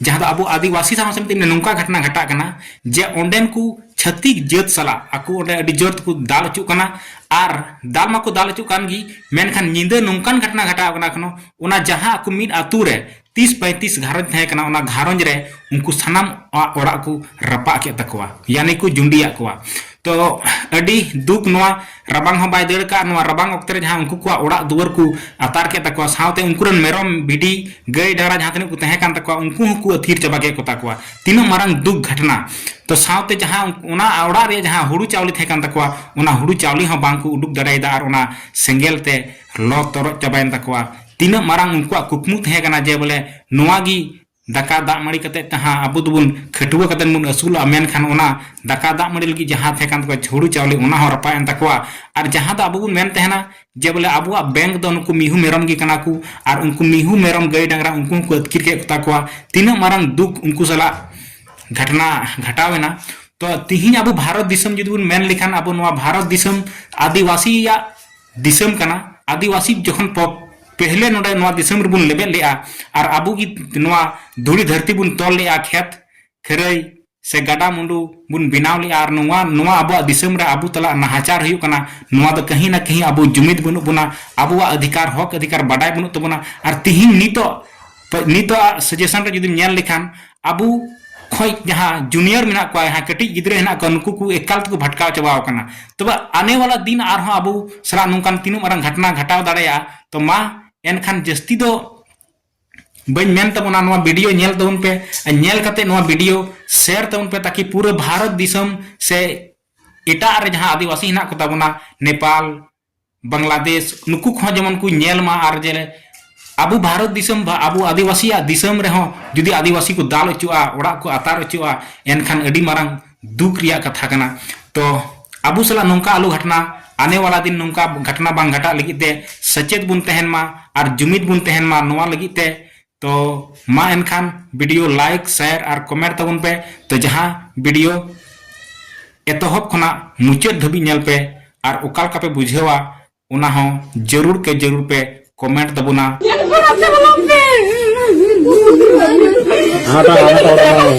ᱡᱟᱦᱟᱸ ᱫᱚ ᱟᱵᱚ ᱟᱹᱫᱤᱵᱟᱹᱥᱤ ᱥᱟᱶ ᱥᱟᱶᱛᱮ ᱱᱚᱝᱠᱟ ᱜᱷᱚᱴᱱᱟ ᱜᱷᱟᱴᱟᱜ ᱠᱟᱱᱟ ᱡᱮ ᱚᱸᱰᱮᱱ ᱠᱚ ᱪᱷᱟᱹᱛᱤᱠ ᱡᱟᱹᱛ ᱥᱟᱞᱟᱜ ᱟᱠᱚ ᱚᱸᱰᱮ ᱟᱹᱰᱤ ᱡᱳᱨ ᱛᱮᱠᱚ ᱫᱟᱞ ᱦᱚᱪᱚᱜ ᱠᱟᱱᱟ ᱟᱨ ᱫᱟᱞ ᱢᱟᱠᱚ ᱫᱟᱞ ᱦᱚᱪᱚᱜ ᱠᱟᱱ ᱜᱮ ᱢᱮᱱᱠᱷᱟᱱ ᱧᱤᱫᱟᱹ ᱱᱚᱝᱠᱟᱱ ᱜᱷᱚᱴᱱᱟ ᱜᱷᱟᱴᱟᱣ ᱠᱟᱱᱟ ᱠᱟᱱᱟ ᱚᱱᱟ ᱡᱟᱦᱟᱸ ᱟᱠᱚ ᱢᱤᱫ ᱟᱛᱳ ᱨᱮ ᱛᱤᱥ ᱯᱟᱸᱭᱛᱤᱥ ᱜᱷᱟᱨᱚᱸᱡᱽ ᱛᱟᱦᱮᱸ ᱠᱟᱱᱟ ᱚᱱᱟ ᱜᱷᱟᱨᱚᱸᱡᱽ ᱨᱮ ᱩᱱᱠᱩ ᱥᱟᱱᱟᱢ ᱚᱲᱟᱜ ᱠᱚ ᱨᱟᱯᱟᱜ ᱠᱮᱫ ᱛᱟᱠᱚᱣᱟ ᱭᱟᱱᱤ ᱠᱚ ᱡᱩᱸᱰᱤᱭᱟᱜ ᱠᱚᱣᱟ ᱛᱚ ᱟᱹᱰᱤ ᱫᱩᱠ ᱱᱚᱣᱟ ᱨᱟᱵᱟᱝ ᱦᱚᱸ ᱵᱟᱭ ᱫᱟᱹᱲ ᱠᱟᱜ ᱱᱚᱣᱟ ᱨᱟᱵᱟᱝ ᱚᱠᱛᱮ ᱨᱮ ᱡᱟᱦᱟᱸ ᱩᱱᱠᱩ ᱠᱚᱣᱟᱜ ᱚᱲᱟᱜ ᱫᱩᱣᱟᱹᱨ ᱠᱚ ᱟᱛᱟᱨ ᱠᱮᱫ ᱛᱟᱠᱚᱣᱟ ᱥᱟᱶᱛᱮ ᱩᱱᱠᱩ ᱨᱮᱱ ᱢᱮᱨᱚᱢ ᱵᱷᱤᱰᱤ ᱜᱟᱹᱭ ᱰᱟᱝᱨᱟ ᱡᱟᱦᱟᱸ ᱛᱤᱱᱟᱹᱜ ᱠᱚ ᱛᱟᱦᱮᱸ ᱠᱟᱱ ᱛᱟᱠᱚᱣᱟ ᱩᱱᱠᱩ ᱦᱚᱸᱠᱚ ᱟᱹᱛᱷᱤᱨ ᱪᱟᱵᱟ ᱠᱮᱫ ᱠᱚ ᱛᱟᱠᱚᱣᱟ ᱛᱤᱱᱟᱹᱜ ᱢᱟᱨᱟᱝ ᱫᱩᱠ ᱜᱷᱟᱴᱱᱟ ᱛᱚ ᱥᱟᱶᱛᱮ ᱡᱟᱦᱟᱸ ᱚᱱᱟ ᱚᱲᱟᱜ ᱨᱮ ᱡᱟᱦᱟᱸ ᱦᱩᱲᱩ ᱪᱟᱣᱞᱮ ᱛᱟᱦᱮᱸ ᱠᱟᱱ ᱛᱟᱠᱚᱣᱟ ᱚᱱᱟ ᱦᱩᱲᱩ ᱪᱟᱣᱞᱮ ᱦᱚᱸ ᱵᱟᱝ ᱠᱚ ᱩᱰᱩᱠ ᱫᱟᱲᱮᱭᱟᱫᱟ ᱟᱨ ᱚᱱᱟ ᱥᱮᱸᱜᱮᱞ ᱛᱮ ᱞᱚ ᱛᱚᱨᱚᱡ ᱪᱟᱵᱟᱭᱮᱱ ᱛᱟᱠᱚᱣᱟ ᱛᱤᱱᱟᱹᱜ ᱢᱟᱨᱟᱝ ᱩᱱᱠᱩᱣᱟᱜ ᱠᱩᱠᱢᱩ ᱛᱟᱦᱮᱸ ᱠᱟᱱᱟ ᱡᱮ ᱵᱚᱞᱮ ᱱᱚᱣᱟ ᱜᱮ ᱫᱟᱠᱟ ᱫᱟᱜ ᱢᱟᱹᱲᱤ ᱠᱟᱛᱮ ᱡᱟᱦᱟᱸ ᱟᱵᱚ ᱫᱚᱵᱚᱱ ᱠᱷᱟᱹᱴᱣᱟᱹ ᱠᱟᱛᱮ ᱵᱚᱱ ᱟᱹᱥᱩᱞᱚᱜᱼᱟ ᱢᱮᱱᱠᱷᱟᱱ ᱚᱱᱟ ᱫᱟᱠᱟ ᱫᱟᱜ ᱢᱟᱹᱲᱤ ᱞᱟᱹᱜᱤᱫ ᱡᱟᱦᱟᱸ ᱛᱟᱦᱮᱸ ᱠᱟᱱ ᱛᱟᱠᱚᱣᱟ ᱦᱩᱲᱩ ᱪᱟᱣᱞᱮ ᱚᱱᱟ ᱦᱚᱸ ᱨᱟᱯᱟᱜ ᱮᱱ ᱛᱟᱠᱚᱣᱟ ᱟᱨ ᱡᱟᱦᱟᱸ ᱫᱚ ᱟᱵᱚ ᱵᱚᱱ ᱢᱮᱱ ᱛᱟᱦᱮᱱᱟ ᱡᱮ ᱵᱚᱞᱮ ᱟᱵᱚᱣᱟᱜ ᱵᱮᱝᱠ ᱫᱚ ᱱᱩᱠᱩ ᱢᱤᱦᱩ ᱢᱮᱨᱚᱢ ᱜᱮ ᱠᱟᱱᱟ ᱠᱚ ᱟᱨ ᱩᱱᱠᱩ ᱢᱤᱦᱩ ᱢᱮᱨᱚᱢ ᱜᱟᱹᱭ ᱰᱟᱝᱨᱟ ᱩᱱᱠᱩ ᱦᱚᱸᱠᱚ ᱟᱹᱛᱠᱤᱨ ᱠᱮᱫ ᱠᱚᱛᱟ ᱠᱚᱣᱟ ᱛᱤᱱᱟᱹᱜ ᱢᱟᱨᱟᱝ ᱫᱩᱠ ᱩᱱᱠᱩ ᱥᱟᱞᱟᱜ ᱜᱷᱟᱴᱱᱟ ᱜᱷᱟᱴᱟᱣ ᱮᱱᱟ ᱛᱚ ᱛᱤᱦᱤᱧ ᱟᱵᱚ ᱵᱷᱟᱨᱚᱛ ᱫᱤᱥᱚᱢ ᱡᱩᱫᱤ ᱵᱚᱱ ᱢᱮᱱ ᱞᱮᱠᱷᱟᱱ ᱟᱵᱚ ᱱᱚᱣᱟ ᱵᱷᱟᱨᱚᱛ ᱫᱤᱥᱚᱢ ᱟᱹᱫᱤᱵᱟᱹᱥᱤᱭᱟᱜ ᱫᱤᱥᱚᱢ ᱠᱟᱱᱟ ᱟᱹᱫᱤᱵᱟᱹᱥᱤ ᱡᱚᱠᱷᱚᱱ ᱯᱚ ᱯᱮᱦᱞᱮ ᱱᱚᱰᱮ ᱱᱚᱣᱟ ᱫᱤᱥᱚᱢ ᱨᱮᱵᱚᱱ ᱞᱮᱵᱮᱫ ᱞᱮᱜᱼᱟ ᱟᱨ ᱟᱵᱚ ᱜᱮ ᱱᱚᱣᱟ ᱫᱷᱩᱲᱤ ᱫᱷᱟᱹᱨᱛᱤ ᱵᱚᱱ ᱛᱚᱞ ᱞᱮᱜᱼᱟ ᱠᱷᱮᱛ ᱠᱷᱟᱹᱨᱟᱹᱭ ᱥᱮ ᱜᱟᱰᱟ ᱢᱩᱸᱰᱩ ᱵᱚᱱ ᱵᱮᱱᱟᱣ ᱞᱮᱜᱼᱟ ᱟᱨ ᱱᱚᱣᱟ ᱱᱚᱣᱟ ᱟᱵᱚᱣᱟᱜ ᱫᱤᱥᱚᱢ ᱨᱮ ᱟᱵᱚ ᱛᱟᱞᱟ ᱱᱟᱦᱟᱪᱟᱨ ᱦᱩᱭᱩᱜ ᱠᱟᱱᱟ ᱱᱚᱣᱟ ᱫᱚ ᱠᱟᱹᱦᱤ ᱱᱟ ᱠᱟᱹᱦᱤ ᱟᱵᱚ ᱡᱩᱢᱤᱫ ᱵᱟᱹᱱᱩᱜ ᱵᱚᱱᱟ ᱟᱵᱚᱣᱟᱜ ᱚᱫᱷᱤᱠᱟᱨ ᱦᱚᱠ ᱚᱫᱷᱤᱠᱟᱨ ᱵᱟᱰᱟᱭ ᱵᱟᱹᱱᱩᱜ ᱛᱟᱵᱚᱱᱟ ᱟᱨ ᱛᱤᱦᱤᱧ ᱱᱤᱛᱚᱜ ᱛᱚ ᱱᱤᱛᱚᱜ ᱥᱟᱡᱮᱥᱚᱱ ᱨᱮ ᱡᱩᱫᱤᱢ ᱧᱮᱞ ᱞᱮᱠᱷᱟᱱ ᱟᱵᱚ ᱠᱷᱚᱡ ᱡᱟᱦᱟᱸ ᱡᱩᱱᱤᱭᱚᱨ ᱢᱮᱱᱟᱜ ᱠᱚᱣᱟ ᱡᱟᱦᱟᱸ ᱠᱟᱹᱴᱤᱡ ᱜᱤᱫᱽᱨᱟᱹ ᱦᱮᱱᱟᱜ ᱠᱚᱣᱟ ᱱᱩᱠᱩ ᱠᱚ ᱮᱠᱟᱞ ᱛᱮᱠᱚ ᱵᱷᱟᱴᱠᱟᱣ ᱪᱟᱵᱟᱣ ᱟᱠᱟᱱᱟ ᱛᱚᱵᱮ ᱟᱱᱮ ᱣᱟᱞᱟ ᱫᱤᱱ ᱟᱨᱦᱚᱸ ᱟᱵᱚ ᱥᱟᱞᱟᱜ ᱱᱚᱝᱠᱟᱱ ᱛᱤᱱᱟᱹᱜ ᱢᱟᱨᱟᱝ ᱜᱷᱟᱴᱱᱟ ᱜᱷᱟᱴᱟᱣ ᱫᱟᱲᱮᱭᱟᱜᱼᱟ ᱛᱚ ᱢᱟ ᱮᱱᱠᱷᱟᱱ ᱡᱟᱹᱥᱛᱤ ᱫᱚ ᱵᱟᱹᱧ ᱢᱮᱱ ᱛᱟᱵᱚᱱᱟ ᱱᱚᱣᱟ ᱵᱷᱤᱰᱤᱭᱳ ᱧᱮᱞ ᱛᱟᱵᱚᱱ ᱯᱮ ᱟᱨ ᱧᱮᱞ ᱠᱟᱛᱮ ᱱᱚᱣᱟ ᱵᱷᱤᱰᱤᱭᱳ ᱥᱮᱭᱟᱨ ᱛᱟᱵᱚᱱ ᱯᱮ ᱛᱟᱠᱤ ᱯᱩᱨᱟᱹ ᱵᱷᱟᱨᱚᱛ ᱫᱤᱥᱚᱢ ᱥᱮ ᱮᱴᱟᱜ ᱨᱮ ᱡᱟᱦᱟᱸ ᱟᱹᱫᱤᱵᱟᱹᱥᱤ ᱦᱮᱱᱟᱜ ᱠᱚ ᱛᱟᱵᱚᱱᱟ ᱱᱮᱯᱟᱞ ᱵᱟᱝᱞᱟᱫᱮᱥ ᱱᱩᱠᱩ ᱠᱚᱦᱚᱸ ᱡᱮᱢᱚᱱ ᱠᱚ ᱧᱮᱞ ᱢᱟ ᱟᱨ ᱡᱮ ᱟᱵᱚ ᱵᱷᱟᱨᱚᱛ ᱫᱤᱥᱚᱢ ᱵᱟ ᱟᱵᱚ ᱟᱹᱫᱤᱵᱟᱹᱥᱤᱭᱟᱜ ᱫᱤᱥᱚᱢ ᱨᱮᱦᱚᱸ ᱡᱩᱫᱤ ᱟᱹᱫᱤᱵᱟᱹᱥᱤ ᱠᱚ ᱫᱟᱞ ᱚᱪᱚᱜᱼᱟ ᱚᱲᱟᱜ ᱠᱚ ᱟᱛᱟᱨ ᱚᱪᱚᱜᱼᱟ ᱮᱱᱠᱷᱟᱱ ᱟᱹᱰᱤ ᱢᱟᱨᱟᱝ ᱫᱩᱠ ᱨᱮᱭᱟᱜ ᱠᱟᱛᱷᱟ ᱠᱟᱱᱟ ᱛᱚ ᱟᱵᱚ ᱥᱟᱞᱟᱜ ᱱᱚᱝᱠᱟ ᱟᱞᱚ ᱜᱷᱟᱴᱱᱟ ᱟᱱᱮ ᱣᱟᱞᱟ ᱫᱤᱱ ᱱᱚᱝᱠᱟ ᱜᱷᱟᱴᱱᱟ ᱵᱟᱝ ᱜᱷᱟᱴᱟᱜ ᱞᱟᱹᱜᱤᱫ ᱛᱮ ᱥᱮᱪᱮᱫ ᱵᱚᱱ ᱛᱟᱦᱮᱱ ᱢᱟ ᱟᱨ ᱡᱩᱢᱤᱫ ᱵᱚᱱ ᱛᱟᱦᱮᱱ ᱢᱟ ᱱᱚᱣᱟ ᱞᱟᱹᱜᱤᱫ ᱛᱮ ᱛᱚ ᱢᱟ ᱮᱱᱠᱷᱟᱱ ᱵᱷᱤᱰᱤᱭᱳ ᱞᱟᱭᱤᱠ ᱥᱮᱭᱟᱨ ᱟᱨ ᱠᱚᱢᱮᱱᱴ ᱛᱟᱵᱚᱱ ᱯᱮ ᱛᱚ ᱡᱟᱦᱟᱸ ᱵᱷᱤᱰᱤᱭᱳ ᱮᱛᱚᱦᱚᱵ ᱠᱷᱚᱱᱟᱜ ᱢᱩᱪᱟᱹᱫ ᱫᱷᱟᱹᱵᱤᱡ ᱧᱮᱞ ᱯᱮ ᱟᱨ ᱚᱠᱟ ᱞᱮᱠᱟ ᱯᱮ ᱵᱩᱡᱷᱟᱹᱣᱟ ᱚᱱᱟ ᱦᱚᱸ ᱡᱟᱹᱨᱩᱲ ᱠᱮ ᱡᱟᱹᱨᱩᱲ ᱯᱮ ᱠᱚᱢᱮᱱᱴ ᱛᱟᱵᱚᱱᱟ ᱦᱟᱴᱟ ᱦᱟᱴᱟ ᱦᱟᱴᱟ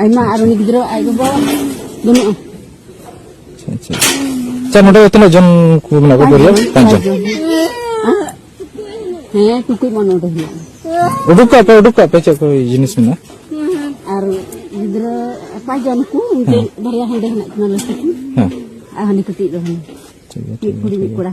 ᱟᱭᱢᱟ ᱟᱨ ᱩᱱᱤ ᱜᱤᱫᱽᱨᱟᱹ ᱟᱡ ᱜᱚᱜᱚ ᱵᱟᱹᱱᱩᱜᱼᱟ ᱟᱪᱪᱷᱟ ᱟᱪᱪᱷᱟ ᱱᱚᱰᱮ ᱛᱤᱱᱟᱹᱜ ᱡᱚᱱ ᱠᱚ ᱢᱮᱱᱟᱜ ᱠᱚᱣᱟ ᱯᱚᱨᱤᱭᱟᱞ ᱯᱟᱸᱪ ᱡᱚᱱ ᱦᱮᱸ ᱴᱩᱠᱩᱡ ᱢᱟ ᱱᱚᱰᱮ ᱦᱮᱱᱟᱜᱼᱟ ᱩᱰᱩᱠ ᱠᱟᱜ ᱯᱮ ᱩᱰᱩᱠ ᱠᱟᱜ ᱯᱮ ᱪᱮᱫ ᱠᱚ ᱡᱤᱱᱤᱥ ᱢᱮᱱᱟᱜᱼᱟ ᱟᱨ ᱜᱤᱫᱽᱨᱟᱹ ᱯᱟᱸᱪ ᱡᱚᱱ ᱠᱚ ᱩᱱᱠᱩ ᱵᱟᱨᱭᱟ ᱦᱟᱸᱰᱮ ᱦᱮᱱᱟᱜ ᱠᱤᱱᱟ ᱞᱟᱹᱴᱩ ᱠᱤᱱ ᱦᱮᱸ ᱟᱨ ᱦᱟᱹᱱᱤ ᱠᱟᱹᱴᱤᱡ ᱫᱚ ᱦᱟᱹᱱᱤ ᱴᱷᱤᱠ ᱜᱮᱭᱟ ᱢᱤᱫ ᱠᱩᱲᱤ ᱢᱤᱫ ᱠᱚᱲᱟ